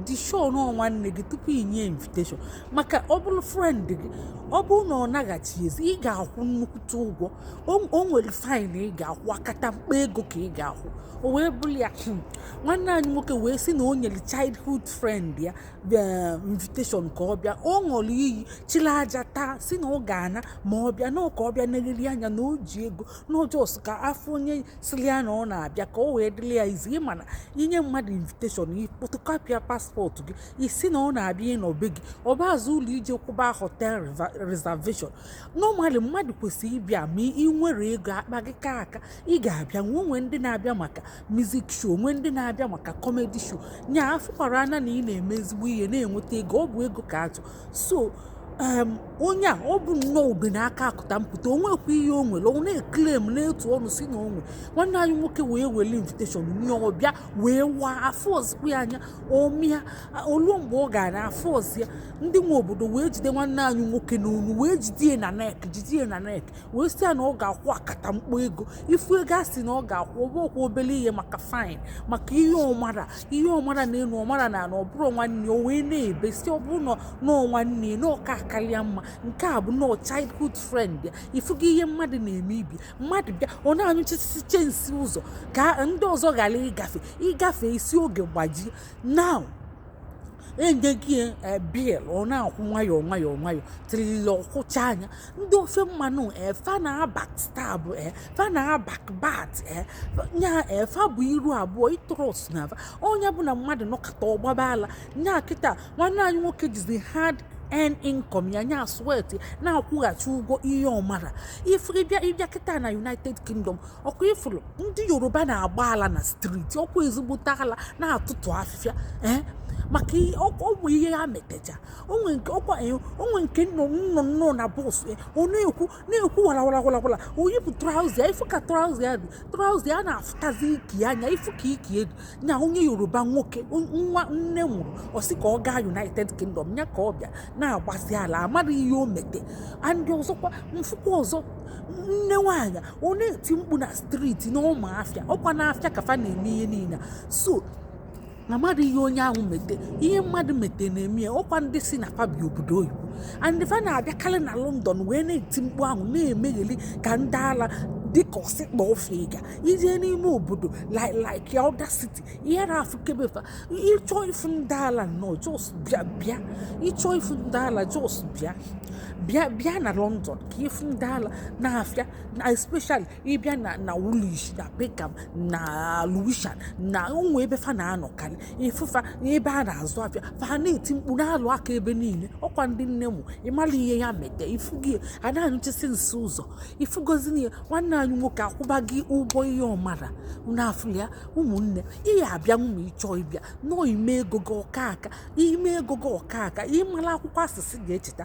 dị sure na ọọ nwanne gị tupu ị nye invitation maka ọ bụrụ friend gị ọ bụrụ na ọ naghachi ezi ị ga-akwụ nnukwute ụgwọ o nwere fine ị ga-akwụ akatamkpo ego ka ị ga-akwụ o wee bụrụ ya hmm, nwanne anyị nwoke wee sị na o nyere childhood friend ya eh, invitation ka ọ bịa ọ ṅụrụ iyi chịrị aja taa sị na ọ ga-ana ma ọ bịa na ọ ka ọ bịa negharị anya na o ji ego na ọọ just ka a fụ onye sili ya na ọ na-abịa ka o wee dịrị ya easy ịma na inye mmadụ invitation ị photocopyịa passport gị ị sị na ọ na-abịa ịnọ be gị ọ baazi uru ije kwụba hotel reservation normally mmadụ kwesịrị ịbịa ma ị nwere ego akpa gị ka aka ị ga-abịa nwe o nwee ndị na-abịa maka music show o nwee ndị na-abịa maka comedy show nya afụkwara anya na ị na-eme ezigbo ihe na-enweta ego ọ bụ ego ka achọ so um, onye a ọ bụ nnọọ ube na aka akụta mpụta o nwekwa ihe o nwere ọ na-eclaim na-etu ọnụ sị na o nwe nwanne anyị nwoke wee were invitation nye ọ bịa wee waa afụrọzikwa ya anya ọ mịa o lue mgbe ọ ga-ana afụrọzi ya ndị nwe obodo wee jide nwanne anyị nwoke n'onu wee jide ya na neck jide ya na neck wee sị ya na ọ ga-akwụ akatamkpo ego ị fụ ego a sị na ọ ga-akwụ ọ bụrọkwa obere ihe maka fine maka ihe ọ mara ihe ọ mara na elu ọ mara na ala ọ bụrụ nwanne o wee na-ebe sị ọ bụrụ na ọọ nwanne na ọ ka-akarịa mma nke a bụ nnọọ childhood friend ya ị fugo ihe mmadụ na-eme ibi mmadụ bịa ọ na-anyụchichichi nsị ụzọ ka ndị ọzọ ghara ịgafe ị gafee ị sị ogwe gbajie now e nyego ya eh, bill ọ na-akwụ nwayọọ nwayọọ nwayọọ tilii ọ kwụchaa nya ndị ofe mmanụ eh, fa na-abackstab eh, fa na-abackbite nya fa bụ iru abụọ ị trust na fa onye bụ na mmadụ nọkata ọ gbaba ala nya kịta nwanne anyị nwoke jizi hard earned income ya nya sweat na-akwụghachi ụgwọ ihe ọ mara if ị bịa ị bịa kịta na united kingdom ọkwa ị fụrụ ndị yoruba na-agba ala na street ọkwa ezigbote ala na-atụtụ afịfịa ee maka ọ bụ ihe ya metecha o nwee nke ọkwa o nwee nke nọ nọ na bus ọ na-ekwu na-ekwu warawarawarawara o yipụ trouser ị fụ ka trouser ya dị trouser ya na-afụtazi ike anya ị fụ ka ike ya dị nya onye yoruba nwoke nwa nne mụrụ ọ sị ka ọ gaa united kingdom ya ka ọ bịa na-agbazi ala amaghị ihe o mete and ọzọkwa m fụkwa ọzọ nne nwaanyị ọ na-eti mkpu na street n'ọma afịa ọkwa n'afịa ka fa na-eme ihe niile so na mmadụ ihe onye ahụ mete ihe mmadụ mete na-eme ya ọkwa ndị sị na fa bi obodo oyibo and fa na-abịakarị na london wee na-eti mkpu ahụ na-emegheli ka ndị ala dịka ọsịkpa ofe ịga ije n'ime obodo like like ya other city ị na-afụkebe fa ịchọ ifu ndị ala nọ just bịa bịa ịchọ ifu ndị ala just bịa bịa bịa na london ka ị fụ ndị ala n'afịa na especially ị bịa na na Woolwich na Peckham na Lewisham na ụmụ ebe fa na-anọkarị ị fụ fa ebe a na-azụ afịa fa na-eti mkpu na-alụ aka ebe niile ọkwa ndị nne mụ ịmara ihe ya mete ifugi a na-anyụchisi nsị ụzọ ị fụgozi na ya nwanne anyị nwoke akwụba gị ụgwọ ihe ọ mara n'afọ ya ụmụnne ihe abịa nwụma ị chọọ ịbịa nọọ ime ego gị ọka aka ime ego gị ọka aka ịmara akwụkwọ asịsị ga-echeta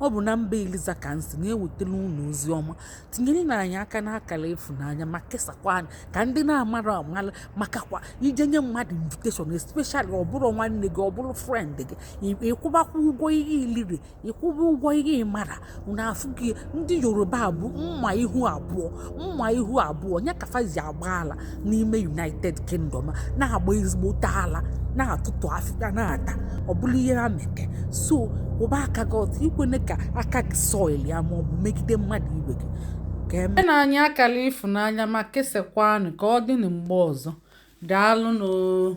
Ọ bụ na mba Eliza ka m si na-ewetara unu ozi ọma tinyerenụ anyị aka n'akara ịfụnanya ma kesakwanụ ka ndị na-amarọ mara makakwa ije nye mmadụ invitation especially ọ bụrụ nwanne gị ọ bụrụ friend gị ị kwụbakwa ụgwọ ihe i liri ị kwụba ụgwọ ihe ị mara n'afọ gị ndị Yoruba bụ mma ihu abụọ mma ihu abụọ ya ka fa ji agba ala n'ime United Kingdom na-agba ezigbote ala na-atụtụ afịfịa na-ata ọ bụrụ ihe ha mete so kwụba aka gị ọtọ ekwene ka aka gị soil ya ma ọ bụ megide mmadụ ibe gị kanyenụ anyị akara ịfụnanya ma kesakwanụ ka ọ dịnụ mgbe ọzọ. Daalụ nụ oo.